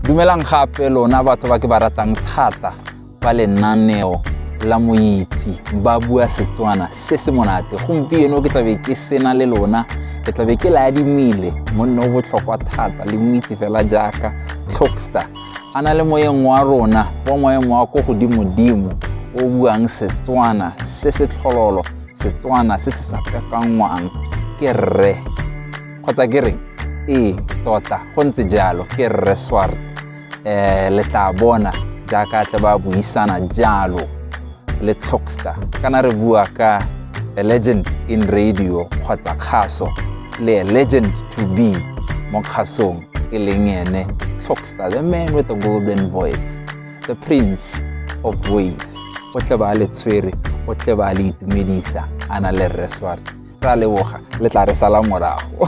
dumelang gape lona batho ba ke ba ratang thata ba lenaneo la moitsi ba bua setswana se se monate gompieno ke tlabe ke sena le lona ke tlabe ke le adimile monne o botlhokwa thata le moitsi fela jaaka tlhokstar a na le moyeng wa rona wa moyeng wa ko godimodimo o buang setswana se se tlhololo setswana se se sa kakangwang ke rre kgotsa ke reng ee tota go ntse jalo ke rre swart um le tla bona jaaka tle ba buisana jalo le tlhoxta kana re bua ka a legend in radio kgotsa kgaso le a legend to be mo kgasong e leng ene tlhoxta the man with the golden voice the prince of ways o tle ba le tshwere o tle ba le itumedisa a na le rre swart ra leboga le tla re sala morago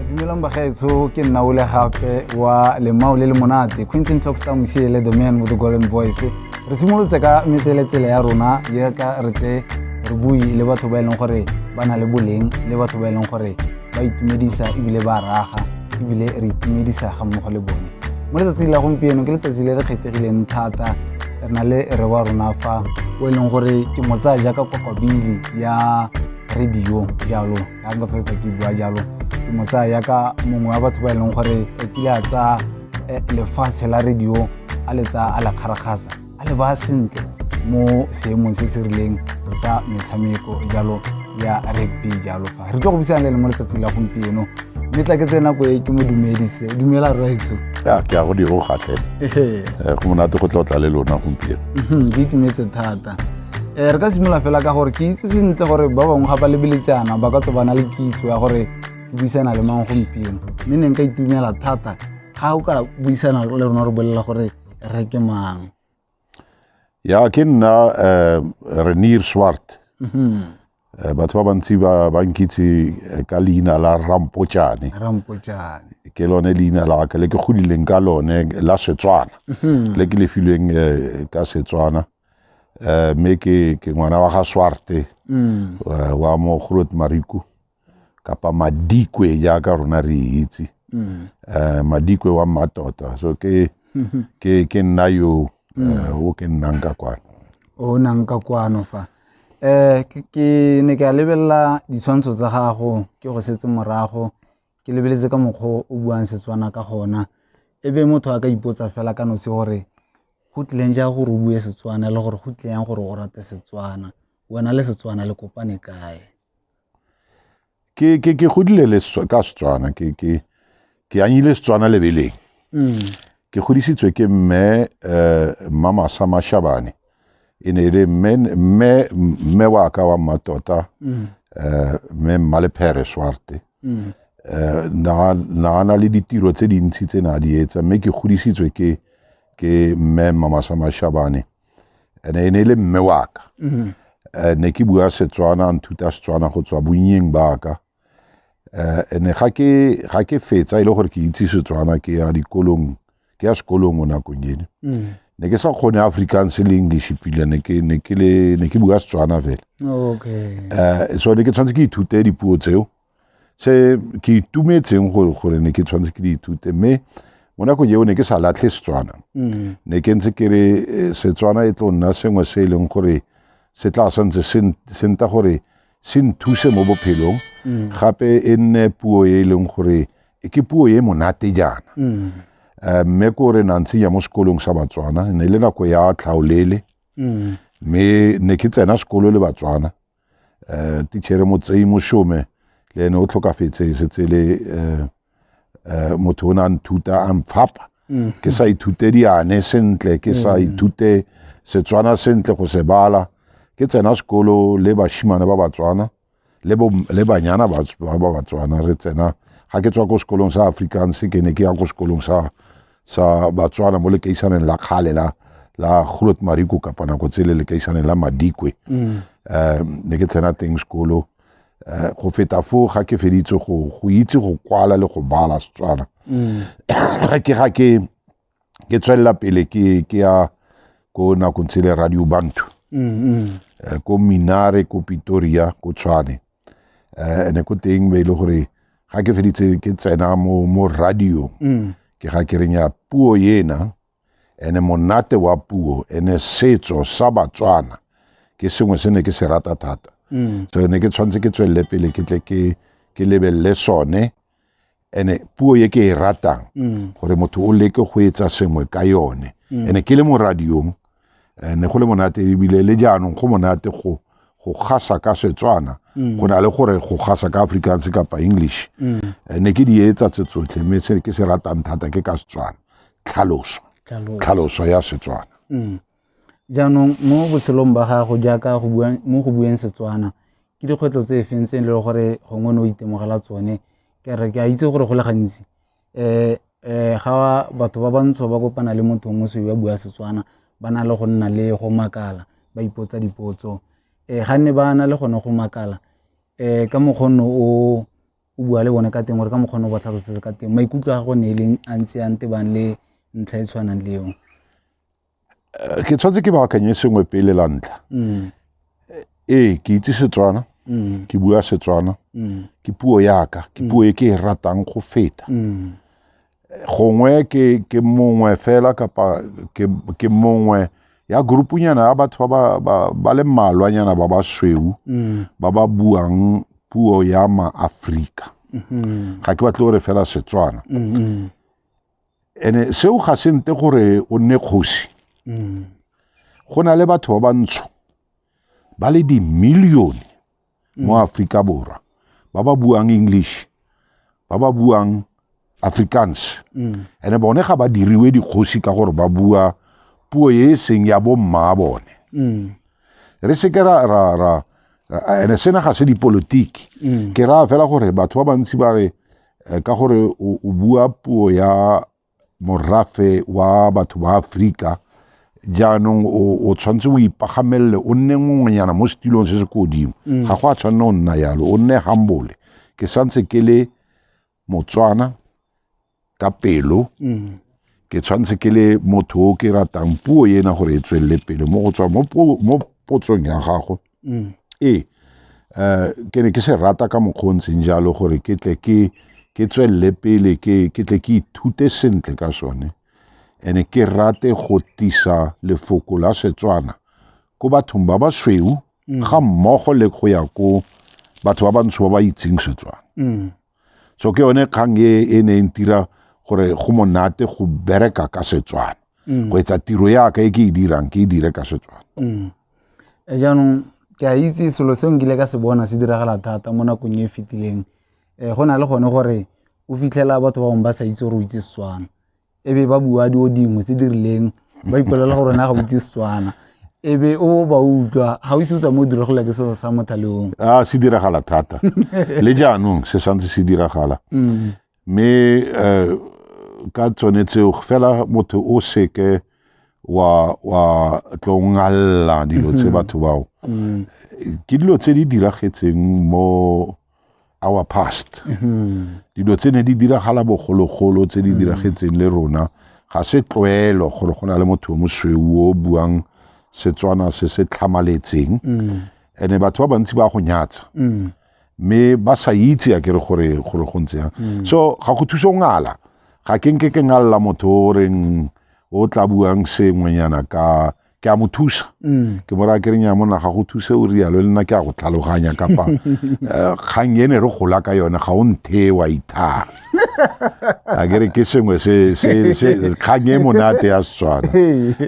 dumelang bagaetsho ke nna ole gape wa lemao le le monate quinton tockstar mosiele the man with the golden voice re simolotse ka metseletsele ya rona jaaka re tle re bue le batho ba e leng gore ba na le boleng le batho ba e leng gore ba itumedisa ebile ba raga ebile re itumedisa ga mmogo le bone mo letsatsing la gompieno ke letsatsi le re kgethegileng thata re na le re wa rona fa o e leng gore ke mo tsaya jaaka kokobili ya radio jalo ya nka fetsa ke bua jalo ke mo tsaya jaaka mongwe wa batho ba e leng gore o kile a tsaya eh, lefatshe la radio a le tsaya a la kgarakgatsa a le ba sentle mo seemong se se rileng sa metshameko jalo ya rugby jalo fa re tlo go buisana le le mo letsatsi la gompieno mme tla ke tse nako e ke mo dumedise dumela rraetso ya ke ya go diro gatle eh, go monate go tlotla le lona gompieno mhm, ke itumetse thata um re ka simolola fela ka gore ke itse sentle gore ba bangwe ga ba lebeletsana ba ka tso bana le kitso ya gore ke buisana le mang gompieno mme ne nka itumela thata ga o ka buisana le rona re bolelela gore Re ke mang? Ya ke nna eh, Renier Swart. Mhm. Eh, batho ba bantsi ba ba nkitse eh, ka leina la Rampotšane. Rampotšane. Ke lone leina la ka le ke godileng ka lone la Setswana. Mhm. Le ke le filweng eh, ka Setswana. Eh, mme ke ke ngwana wa ga Swarte Mm. eh, wa mo Groot Mariku. kapa madikwe jaaka rona re itse um madikwe wa mmatota so ke ke ke nna yo eh, o ke nnang ka kwana o nang ka kwano fa um ke ne ke a lebelela ditshwantsho tsa gago ke go setse morago ke lebeletse ka mokgwa o buang setswana ka gona e be motho a ka ipotsa fela ka nosi gore go tlileng jang gore o bue setswana le gore go tlileng gore o rate setswana wena le setswana le kopane kae ke ke ke godile le Setswa- ka setswana ke ke ke anyile setswana lebeleng Mm. ke godisitswe ke mme eh, mmamasa mashabane e ne e le mme mme mme wa ka wa mmatota Mm. eh, mme mmalephere swarte Mm. eh, na na a na le ditiro tse dintsi tse ne a di etsa mme ke godisitswe ke ke mme mmamasa mashabane and e ne e le mme wa ka mm-hmm. eh, ne ke bua setswana nthuta setswana go tswa bonnyeng ba ka eh, ene ga ke ga ke fetsa e le gore ke itse setswana ke ya dikolong ke ya sekolong o nakong ene mm. ne ke sa kgone africans le english pila ne ke ne ke le ne ke bua setswana fela okay eh, so ne ke tshwanetse ke ithute dipuo tseo se ke itumetseng gore gore ne ke tshwanetse ke di ithute mme mo nakong eo ne ke sa latlhe setswana mm. ne ke ntse ke re eh, setswana e tlo nna sengwe se e leng gore se tla santse se nta gore se nthuse mo bophelong mm. gape e nne puo e e leng gore e ke puo e monate jaana mm. eh, mme ko re na ntsenya mo sekolong sa batswana ne le nako ya tlhaolele mme ne ke tsena sekolo le batswana um tichere motseyi mošome le ene o tlhokafetse e setse le um motho o ne a nthuta a mphapa mm. ke sa ithute diane sentle ke sa mm. ithute setswana sentle go se bala ke tsena sekolo le bashimane ba batswana le banyana ba batswana re tsena ga ke tswa ko sekolong sa afrikaans ke ne ke ya ko sekolong sa sa batswana mo lekeisaneng la kgale la la Groot Mariko kapa nako tsele lekeisaneng la Madikwe mm. eh, ne ke tsena teng sekolo eh, go feta foo ga ke feditse go go itse go kwala le go bala setswana mm. ke ga ke ke tswelela pele ke ke ya ko nakong tsele radio bantu mm, eh, ko minare ko pitoria ko tshwane eh, ene ko teng be e le gore ga ke feditse ke tsena mo mo radio mm. ke ga ke reng ya puo ena ene monate wa puo ene setso sa batswana ke sengwe se ne ke se rata thata mm. so ne ke tshwanetse ke tswelele pele ke tle ke ke lebelele sone ene puo ye ke e ratang mm. gore motho o leke go etsa sengwe ka yone mm. ene ke le mo radiong eh, ne go le monate ebile le jaanong go monate go go gasa ka setswana mm. go na le gore go gasa ka afrikaans kapa english eh, ne ke di etsa tse tsotlhe mme se ke se ratang thata ke ka setswana tlhaloso tlhaloso ya setswana Jaanong mo botshelong ba gago jaaka mo go bueng Setswana ke dikgwetlho tse e feng tse e leng gore gongwe ne o itemogela tsone, ke a re ke a itse gore go le gantsi ga batho ba bantsho ba kopana le motho wa mosweu a bua Setswana ba na le go nna le go makala ba ipotsa dipotso. Ga nne ba na le gone go makala ka mokgwa o ne o bua le bone ka teng gore ka mokgwa o ne o ba tlhalosetsa ka teng maikutlo a gago ne e leng a ntse a ntebang le ntlha e tshwanang le eo. Eh, ke tshwanetse ke baakanye sengwe pele la ntlha mm. eh, ee ke itse setswana mm. ke bua setswana mm. ke puo yaka ke puo e ke e ratang go feta eh, gongwe ke mongwe fela kapa ke mongwe ya grupunyana ya batho ba le mmalwanyana ba ba sweu ba ba buang puo ya maaforika mm-hmm. ga ke batle gore fela setswana mm-hmm. ene seo ga se nte gore o nne kgosi mm. go na le batho ba bantsho ba le dimilione mo mm. aforika borwa ba ba buang english ba ba buang afrikaans mm. ene bone ga ba diriwe dikgosi ka gore ba bua puo e e seng ya bommaa bone re seke ra ra ra ene sena ga se dipolotiki ke raya fela gore batho ba bantsi ba re eh, ka gore o bua puo ya morafe wa batho ba Afrika jaanong o tshwanetse o ipagamelele o nne ngwenyana mo setilong se se ko godimo mm. ga go a tshwanela o nna yalo o nne hambole ke santse ke le motswana ka pelo mm. ke tshwanetse ke le motho o ke ratang puo ena gore e tswelele pele mo go tswa mo potsong ya gago Mm. Ee, um ke ne ke se rata ka mokgwa o ntseng jalo gore ke tle ke ke tswelele pele ke ke tle ke ithute sentle ka sone and ke rate go tisa lefoko la setswana ko bathong ba basweu mm. ga mmogo le go ya ko batho ba bantsho ba ba itseng setswana mm. so ke yone kgang e e ne e ntira gore go monate go bereka ka setswana mm. go etsa tiro yaka e ke e dirang ke e dire ka setswana mm. eh, jaanong ke a itse selo se nkile ka se bona se diragala thata mo nakong e e fetileng um go na le gone gore o fitlhela batho ba bangwe ba sa itse gore o itse setswana e be ba bua dio dingwe tse di rileng ba ipolela gore na ga botse setswana e be o ba utlwa ga o ise o tsa mo diragala ke selo sa mothaleong a ah, se diragala thata le jaanong se santse se diragala mm. mme um ka tsone tseo fela motho o seke wa wa tlo ngalla dilo tse mm-hmm. batho bao mm. ke dilo tse di diragetseng mo our past mm-hmm. dilo tse ne di diragala bogologolo tse di mm-hmm. diragetseng le rona ga se tlwaelo gore go na le motho mosweu o buang setswana se se tlhamaletseng mm. ene batho ba bantsi ba go nyatsa mm. mme ba sa itse a kere gore gore go ntse yang mm. so ga go thuso ngala ga ke nke ke ngalla motho o reng o tla buang sengwenyana ka ke a mo thusa mm. ke mo raya ke reng ya monna ga go thuse o rialo le nna ke a go tlhaloganya kapa eh, kgang ene re gola ka yone ga o nthe wa ithaa a kere ke sengwe kgang e monate ya setswana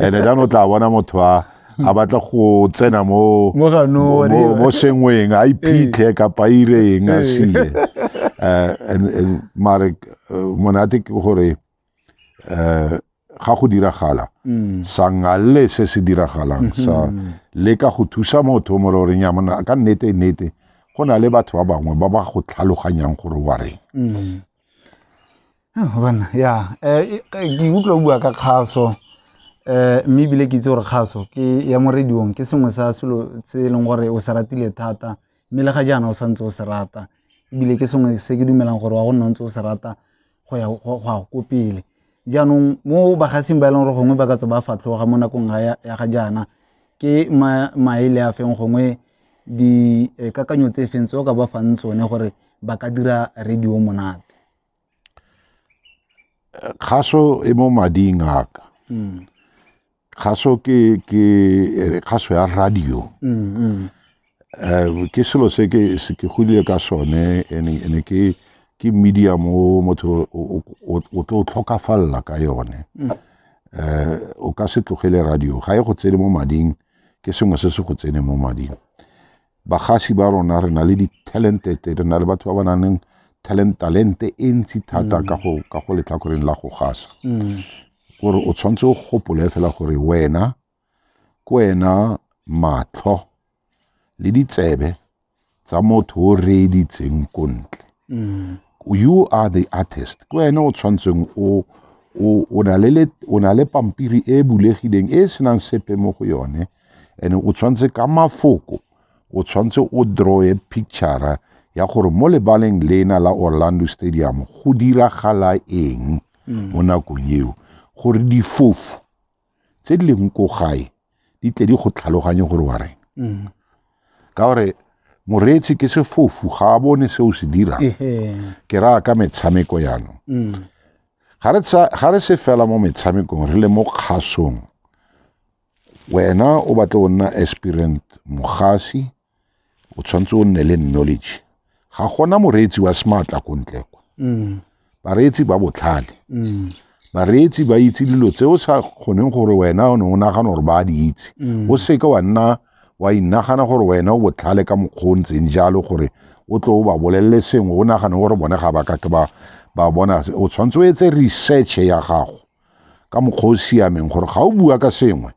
ande dane o tla bona motho a a batla go tsena mo mo sengweng a iphitlhe kapa ireng a sile eh, mare eh, monate ke gore eh ga go diragala mm. sangalle se se diragalang mm-hmm. sa le ka go thusa motho mo re reng ya mona ka nnete nnete go na le batho ba bangwe ba ba go tlhaloganyang gore wa reng mm. ah, bona ya eh, eh, ke utlwa bua ka kgaso eh mme bile ke itse gore kgaso ke ya morediong ke sengwe sa selo se e leng gore o se ratile thata mme le ga jaana o santse o se rata ebile ke sengwe se ke dumelang gore wa go nna ntse o se rata go ya ko pele. Jaanong mo bagasing ba e leng gore gongwe ba ka tswa ba fatlhoga mo nakong ya ga jaana ke maele a feng gongwe dikakanyo tse feng tse o ka ba fang tsone gore ba ka dira radio monate. Kgaso e mo mading a ka. Hmm. kgaso ke ke re kgaso ya radio mm, mm. Eh, ke selo se ke se ke godile ka sone ene ke ke media mo motho o tlo tlhokafalela ka yone mm. eh o ka se tlogele radio ga e go tsene mo mading ke sengwe se se go tsene mo mading bagasi ba rona re na le di-talented re na le batho ba ba nang leng talent talente e ntsi thata mm. ka go ka go letlhakoreng la go gasa mm. gore o tshwanetse o gopole fela gore wena ke wena matlho le ditsebe tsa motho o reeditseng ko ntle mm. you are the artist ke wena o tshwanetseng o o na le pampiri e bulegileng e e senang sepe mo go yone and o tshwanetse ka mafoko o tshwanetse o drawe picture ya gore mo lebaleng lena la orlando stadium go diragala eng mm. mo nakong eo gore difofu tse di leng ko gae di tle di go tlhaloganye gore wa reng mm. ka gore moreetsi ke sefofu ga a bone se o se dirang ke raya ka metshameko jaanong mm. ga re se fela mo metshamekong re le mo kgasong wena o batla o nna aspirant mogasi o tshwanetse o nne le knowledge ga gona moreetsi wa smartla ko ntle kwa mm. bareetsi ba botlhale mm. bareetsi ba itse dilo tse o sa kgoneng gore wena o ne o nagana gore ba di itse mm. o seke wa nna wa inagana gore wena o botlhale ka mokgwa o ntseng jalo gore o tlo o ba bolelele sengwe o nagane gore bone ga ba kake ba bona o tshwanetse o etse research ya gago ka mokgwa o siameng gore ga o bua ka sengwe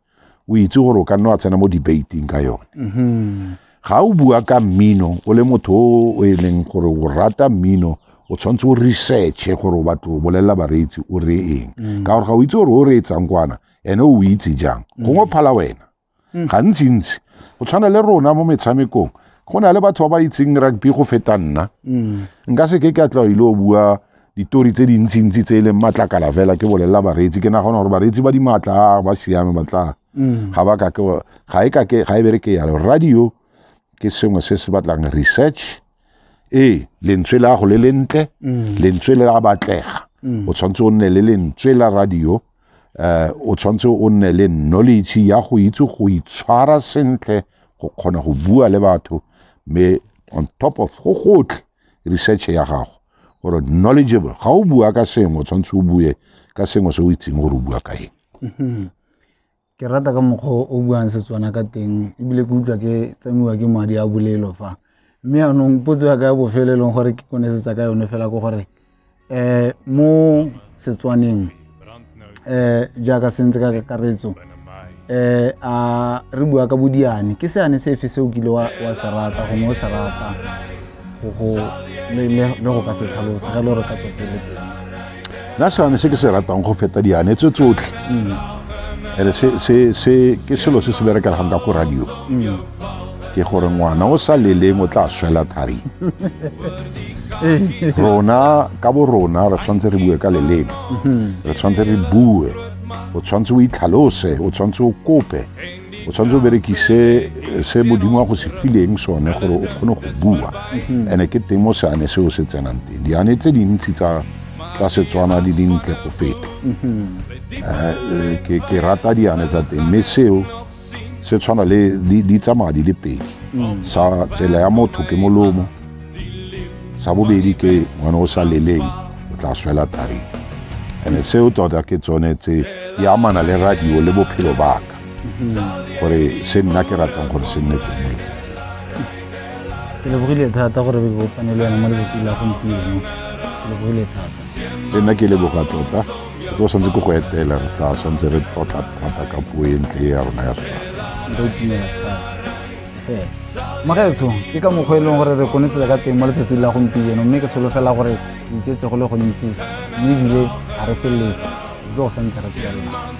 o itse gore o ka nna wa tsena mo debating ka yone mm-hmm. ga o bua ka mmino o le motho o e leng gore o rata mmino o tshwanetse o researche gore o batlo o bolelela bareetsi o re eng mm. ka gore ga o itse gore o reetsang kwana ene o itse jang mm. gongwe phala wena mm. gantsintsi go tshwana le rona mo metshamekong go na le batho ba ba itseng rugby go feta nna mm. nka se ke ke a tla ile o bua ditori tse dintsintsi tse e leng matlakala fela ke bolelela bareetsi ke nagona gore bareetsi ba dimaatla ba siame batla mm. ga ba ka ke ga e ka ke ga e bere ke yalo radio ke sengwe se se batlang research ee lentswe la go le lentle lentswe le la batlega o tshwanetse o nne le lentswe la radio eh, o tshwanetse o nne le knowledge ya go itse go itshwara sentle go kgona go bua le batho mme on top of go gotlhe research ya gago gore knowledgeable ga o bua ka sengwe o tshwanetse o bue ka sengwe se o itseng gore o bua ka eng mm-hmm. Ke rata ka mokgwa o o buang Setswana ka teng ebile ke utlwa ke tsama'iwa ke madi a bolelo fa. Mme yanong potso ya ka ya bofelo e leng gore ke konosetsa ka yone fela ke gore mo Setswaneng jaaka se ntse ka kakaretso a re bua ka bo diane, ke seane sefe se o kile wa se rata gongwe o se rata? go ka se tlhalosa ga le gore ka tswa se le teng nna seane se ke se ratang go feta diane tse tsotlhe ere mm. se ke selo se se berekelegang ka ko radio mm. ke gore ngwana o sa leleng o tla swela thari rona ka bo rona re tshwanetse re bue ka leleme mm-hmm. re tshwanetse re bue o tshwanetse o itlhalose o tshwanetse o kope tshwanetse o berekise eh, se modimo wa go se fileng sone gore o kgone go bua mhm. and-e ke teng mo seane seo se tsenang teng diane tse dintsi tsa tsa setswana di dintle go feta mhm. eh, eh, ke rata diane tsa teng mme seo se tshwana le di tsamaya di le pedi mhm. sa tsela ya motho ke molomo sa bobedi ke ngwana o sa leleng o tla swela tareng and-e seo tota ke tsone tse di amana le radio le bophelo baka mm-hmm. gore se nna ke ratang gore se nne teng ke lebogile thata gore be bopane le yone mo letsatsi la gompieno ke lebogile thata le nna ke leboga tota ke tlo tshwanetse ke go etela re tla tshwanetse re tlotla thata ka puo e ntle ya rona ya sona magaetsho ke ka mokgwa e leng gore re konesetse ka teng mo letsatsi la gompieno mme ke solofela gore itsetse go le gontsi mme ebile ga re feleletse tlo go santse re tsela